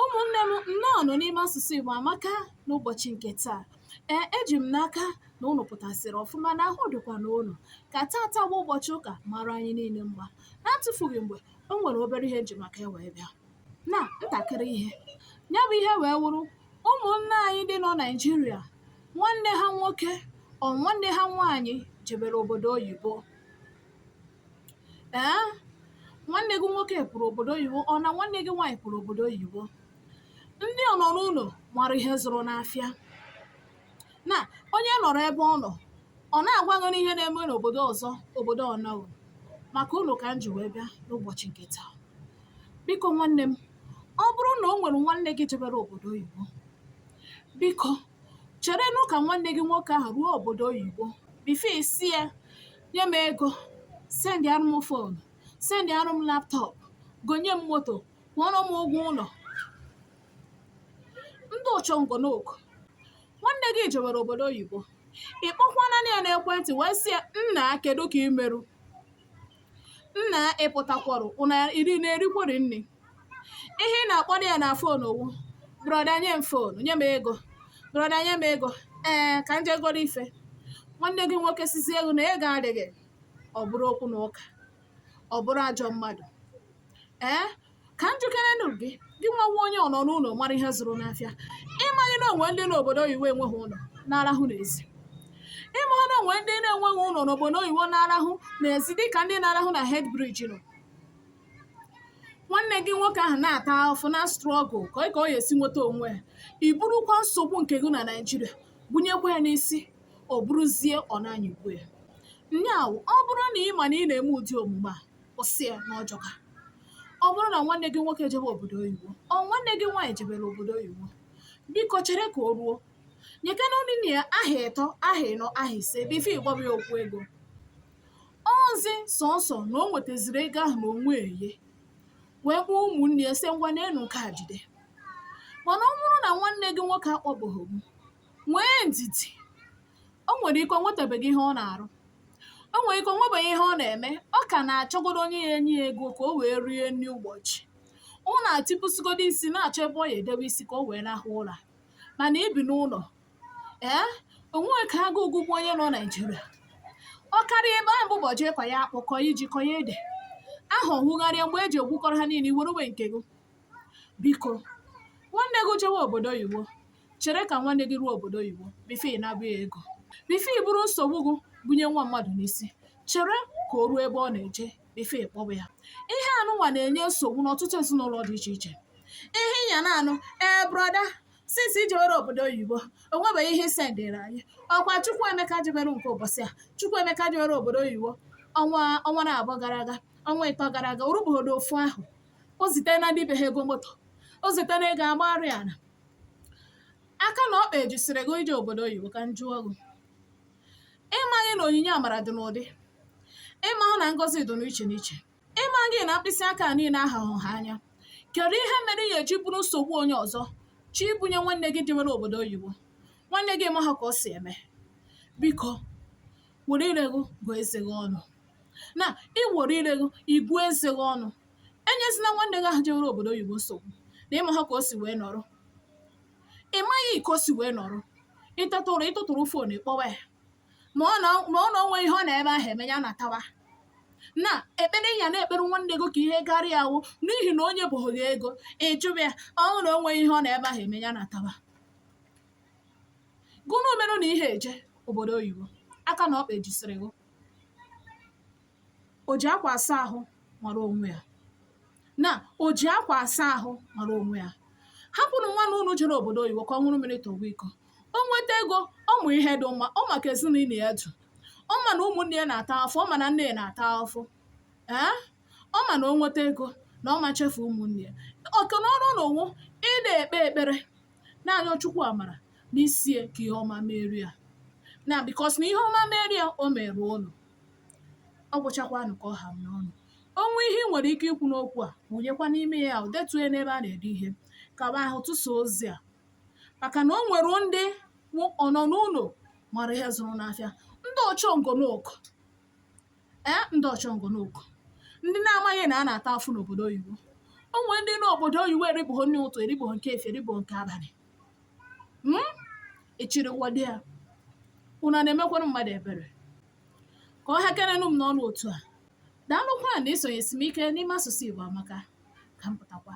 ụmụnne m nnọọ nụ n'ime asụsụ Igbo amaka n'ụbọchị nke taa ee eji m n'aka na ụnụ pụtasịrị ọfụma na ahụ dịkwa na ụnụ ka tata bụ ụbọchị ụka mara anyị niile mma n'atụfughị mgbe o nwere obere ihe m ji maka ya wee bịa na ntakịrị ihe ya bụ ihe wee wụrụ ụmụnne anyị ndị nọ Naịjirịa nwanne ha nwoke ọ nwanne ha nwaanyị jebere obodo oyibo ee nwanne gị nwoke pụrụ obodo oyibo ọ na nwanne gị nwaanyị pụrụ obodo oyibo ndị ọ nọ n'ụlọ mara ihe zụrụ n'afịa na onye nọrọ ebe ọ nọ ọ na-agwa gị n'ihe na-eme n'obodo ọzọ obodo ọ nọghị maka ụnụ ka m ji wee bịa n'ụbọchị nke taa biko nwanne m ọ bụrụ na o nwere nwanne gị jebere obodo oyibo biko cherenụ ka nwanne gị nwoke ahụ ruo obodo oyibo before ị sị ya nye m ego sendịarụ m fon sendịarụ m laptọp gonye m moto kwụọrọ m ụgwọ ụlọ ndị ụchọngonoku nwanne gị jewere obodo oyibo ị kpọkwana ya n'ekwentị wee sị ya nna kedu ka i merụ nna ị pụtakwọrọ ụra ị na-erikwọrị nri ihe ị na-akpọdo ya na fon ọ wụ brọda nye m fon nye m ego brọda nye m ego ee ka m je goro ife nwanne gị nwoke sịzie gị na ego adịghị ọ bụrụ okwu na ụka ọ bụrụ ajọ mmadụ ee ka m jụkerenụ gị gị nwa wụ onye ọ nọ n'ụlọ mara ihe zụrụ n'afịa ị ma na o nwere ndị n'obodo oyibo enweghị ụlọ na-arahụ n'ezi ị ma na o nwere ndị na-enweghị ụlọ n'obodo oyibo na-arahụ n'ezi dịka ndị na-arahụ na Head Bridge nọ nwanne gị nwoke ahụ na-ata afụfụ na-astruggle ka ọ ka ọ ga-esi nweta onwe ya i burukwa nsogbu nke gị na Naịjirịa bunyekwa ya n'isi o buruzie ọ na-anyịgbu ya nya wụ ọ bụrụ na ị ma na ị na-eme ụdị omume a kwụsị ya na ọ jọka ọ bụrụ na nwanne gị nwoke jebe obodo oyibo ọ nwanne gị nwaanyị jebere obodo oyibo biko chere ka o ruo nyekana onye na ya ahọ ịtọ ahọ ịnọ ahọ ise before ị gwaba ya okwu ego ọ zị sọsọ na o nwetaziri ego ahụ n'onwe ya wee kpọọ ụmụnne ya sị ngwa neenụ nke a jide mana ọ bụrụ na nwanne gị nwoke akpọbeghị nwee ndidi o nwere ike o nwetabeghị ihe ọ na-arụ o nwere ike o nwebeghị ihe ọ na-eme ọ ka na-achọgodo onye ya-enye ya ego ka o wee rie nri ụbọchị ọ na-atịpụsịgodo isi na-achọ ebe ọ ya-edebe isi ka o wee rahụ ụra mana i bi n'ụlọ ee onwe ka agụụ gụgbuo onye nọ naijiria ọ karịa ebe ahụ bụ ụbọchị ịkọ ya akpụ kọ ya ji kọ ya ede aha ọhụgharịa mgbe eji egwukọrọ ha niile iwere uwe nke gị biko nwanne gị jewe obodo oyibo chere ka nwanne gị ruo obodo oyibo before ị na-ajụ ya ego before i buru nsogbu gị bunye nwa mmadụ n'isi chere ka o ruo ebe ọ na-eje before ị kpọwa ya ihe anụnwa na-enye nsogbu n'ọtụtụ ezinụlọ dị iche iche ihe ị ya na-anụ ee brother since i jewere obodo oyibo onwebeghị ihe i sendịrị anyị ọkwa Chukwuemeka jebere nke ugbu a Chukwuemeka jewere obodo oyibo ọnwa ọnwa na abụọ gara aga ọnwa ịtọ gara aga o rubụghị ofu ahọ o zitena ndị be ha ego moto o zitena ego agbagharị ala aka na ọkpa ejisiri gị ije obodo oyibo ka m jụọ gị ịmaghị na onyinye amara dị n'ụdị ịmahụ na ngọzi dị n'iche n'iche ị maghị na mkpịsị aka niile ahahụ nha anya kedu ihe mere ị ya eji buru nsogbu onye ọzọ je ibunye nwanne gị jewere obodo oyibo nwanne gị ị maha ka o si eme biko were ire gị gụọ eze gị ọnụ na i were ire gị gụọ eze gị ọnụ enyezina nwanne gị ahụ jewere obodo oyibo nsogbu na ị maha ka o si wee nọrọ ị maghị ka o si wee nọrọ ịtatụrụ ị tụtụrụ fon kpọwa ya ma ọ na ma ọ na onwehị ihe ọ nọ ebe ahụ eme ya natawa na ekpere ị ya na-ekpere nwanne gị ka ihe gara ya ọ wụ n'ihi na o nyebụghị gị ego ị jụba ya ọ bụrụ na onwehị ihe ọ nọ ebe ahụ eme ya natawa gụnụ merụ na ihe eje obodo oyibo aka na ọkpa ejisiri gụ o ji akwa asa ahụ mara onwe ya na o ji akwa asa ahụ mara onwe ya hapụnụ nwanne unu jere obodo oyibo ka ọ ṅụrụ mmiri tọwa iko o nweta ego ọ ma ihe dị mma ọ ma ka ezinụlọ ya dị ọ ma na ụmụnne ya na-ata afụ ọ ma na nne ya na-ata afụ ee ọ ma na o nweta ego na ọ ma echefu ụmụnne ya oke na ọrụ unu wụ ị na-ekpe ekpere na-arịọ chukwu amara n'isie ka ihe ọma meere ya na because na ihe ọma meere ya o meere unu ọ gwụchakwanụ ka ọ ha m n'ọnụ o nwee ihe i nwere ike ikwu n'okwu a wụnyekwa n'ime ya ahụ detuo ya n'ebe a na-ede ihe ka m hụ tụsa ozi a maka na o nwere ndị wụ ọ nọ n'ụlọ mara ihe zụrụ n'afịa ndị ọchọngonoku ee ndị ọchọngonoku ndị na-amaghị na a na-ata afụ n'obodo oyibo o nwere ndị n'obodo oyibo eribụghị nri ụtụ eribụghị nke efie eribụghị nke abalị Hmm? ị chịrịwọdị ya unu na-emekwara mmadụ ebere ka ọ hakenenụ m n'ọnụ otu a daalụkwa na isonyesi m ike n'ime asụsụ igbo amaka ka m pụtakwa